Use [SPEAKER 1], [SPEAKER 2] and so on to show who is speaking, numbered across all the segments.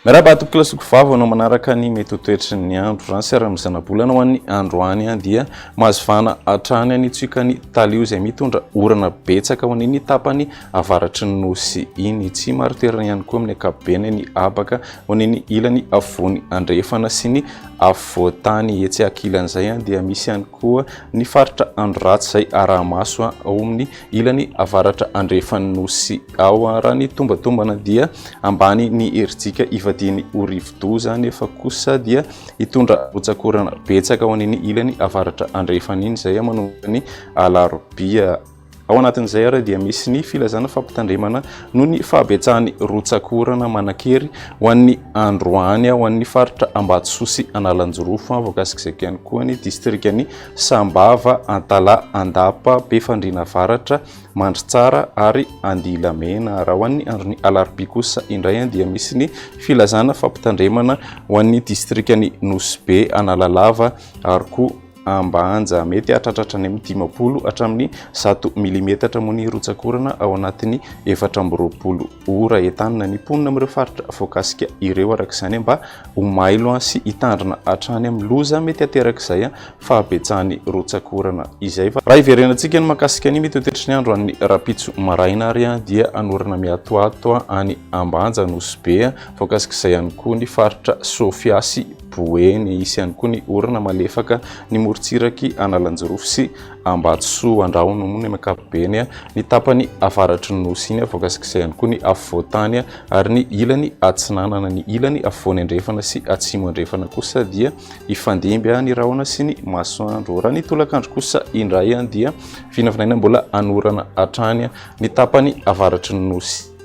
[SPEAKER 1] Miarahaba ato kilasiko vava anao manaraka ny mety ho toetry ny andro. Raha ny seran'ny zanabolana ho an'ny androany dia mazivana hatrany any tsika ny talio izay mitondra orana betsaka ho an'ny tapany avaratry ny nosy iny. Tsy maro toerana ihany koa amin'ny ankapobeny ny habaka ho an'ny ilany avony andrefana sy ny afovoan-tany etsy ankilan'izay dia misy ihany koa ny faritra andro ratsy izay araha-maso ao amin'ny ilany avaratra andrefan'ny nosy ao raha ny tombatombana dia ambany ny herijika ivadian'ny orivo-doza nefa kosa dia hitondra rotsak'orana betsaka ao an'iny ilany avaratra andrefan'iny izay manomboka ny alarobia Ao anatin'izay ary dia misy ny filazana fampitandremana noho ny fahabetsahan'ny rotsak'orana manan-kery ho an'ny androany ho an'ny faritra Ambatosoa sy Analanjirofo. Voakasik'izay ihany koa ny distrikan'i Sambava, Antalaha, Andapa, Befandriana Avaratra, Mandritsara ary Andilamena. Raha ho an'ny andron'ny alarobia kosa indray dia misy ny filazana fampitandremana ho an'ny distrikan'i Nosy Be, Analalava ary koa Ambanja. Mety hahatratra hatrany amin'ny dimampolo hatramin'ny zato milimetatra moa ny rotsak'orana ao anatin'ny efatra amby roapolo ora. Entanina ny mponina amin'ireo faritra voakasika ireo araka izany mba ho mailo sy hitandrina hatrany amin'ny loza mety haterak'izay fahabetsahan'ny rotsak'orana izay. Raha hiverenantsika ny mahakasika ny mitoetotry ny andro any rahampitso maraina ary dia hanorana miatoato any Ambanja, Nosy Be, voakasik'izay ihany koa ny faritra Sofia sy. Boeny, hisy ihany koa ny orana malefaka ny morontsirak'i Analanjirofo sy Ambatosoa Andrahono moa ny amin'ny ankapobeny, ny tapany avaratry ny Nosy iny voakasik'izay ihany koa ny afovoantany ary ny ilany atsinanana, ny ilany afovoany andrefana sy atsimo andrefana kosa dia hifandimby ny rahona sy ny masoandro. Raha ny tolakandro kosa indray dia vinavinaina mbola hanorana hatrany ny tapany avaratry ny Nosy.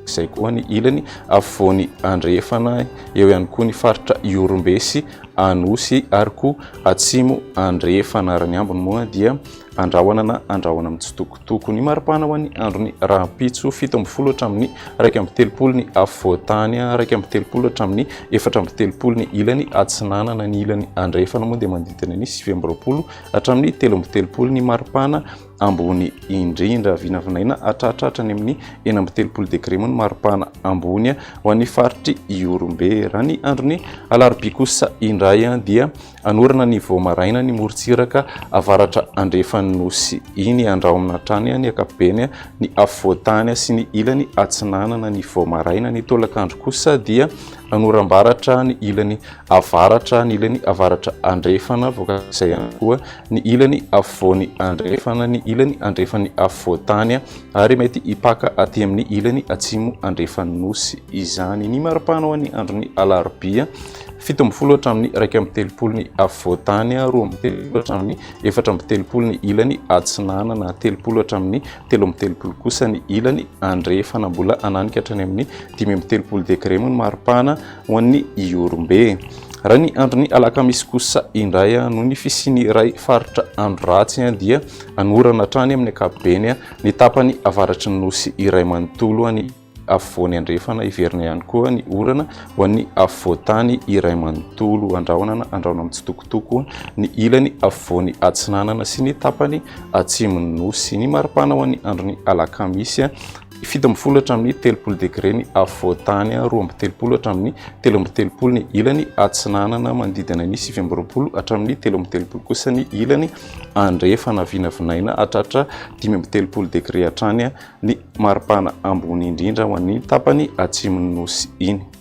[SPEAKER 1] Izay koa ny ilany afovoany andrefana, eo ihany koa ny faritra Ihorombe sy Anosy ary koa atsimo andrefana. Raha ny ambiny moa dia andrahona na andrahona mitsitokotoko. Ny mari-pana ho an'ny andron'ny rahampitso, fito ambin'ny folo hatramin'ny iraika amby telopolo ny afovoan-tany, iraika amby telopolo hatramin'ny efatra amby telopolo ny ilany atsinanana. Ny ilany andrefana moa dia manodidina ny sivy amby roapolo hatramin'ny telo amby telopolo ny mari-pana. ambony indrindra. Vinavinaina hatratratra any amin'ny enina amby telopolo degre moa ny mari-pana ambony ho an'ny faritr'i Ihorombe. Raha ny andron'ny alarobia kosa indray dia hanorana ny vao maraina ny morontsiraka avaratra andrefan'ny nosy iny. Handrahona hatrany ny ankapobeny ny afovoan-tany sy ny ilany atsinanana ny vao maraina. Ny tolakandro kosa dia hanoram-baratra ny ilany. avaratra, ny ilany avaratra andrefana, vokatr'izay ihany koa ny ilany afovoany andrefana, ny ilany andrefan'ny afovoan-tany ary mety hipaka aty amin'ny ilany atsimo andrefan'ny nosy izany. Ny maripana ho an'ny andron'ny alarobia, fito ambin'ny folo hatramin'ny iraika amby telopolo ny afovoan-tany, roa amby telopolo hatramin'ny efatra amby telopolo ny ilany atsinanana, telopolo hatramin'ny telo amby telopolo kosa ny ilany andrefana. Mbola ananika hatrany amin'ny dimy amby telopolo degre moa ny maripana. ho an'ny Ihorombe. Raha ny andron'ny alakamisy kosa indray, noho ny fisian'ny iray faritra andro ratsy, dia hanorana hatrany amin'ny ankapobeny ny tapany avaratry ny nosy iray manontolo ny afovoany andrefana. Hiverina ihany koa ny orana ho an'ny afovoan-tany iray manontolo. Andrahona na andrahona mitsitokotoko ny ilany afovoany atsinanana sy ny tapany atsimon'ny nosy. Ny mari-pana ho an'ny andron'ny alakamisy. fito ambin'ny folo hatramin'ny telopolo degre ny afovoan-tany, roa amby telopolo hatramin'ny telo amby telopolo ny ilany atsinanana, manodidina ny sivy amby roapolo hatramin'ny telo amby telopolo kosa ny ilany andrefana, vinavinaina hatratra dimy amby telopolo degre hatrany ny maripana ambony indrindra ho an'ny tapany atsimon'ny nosy iny.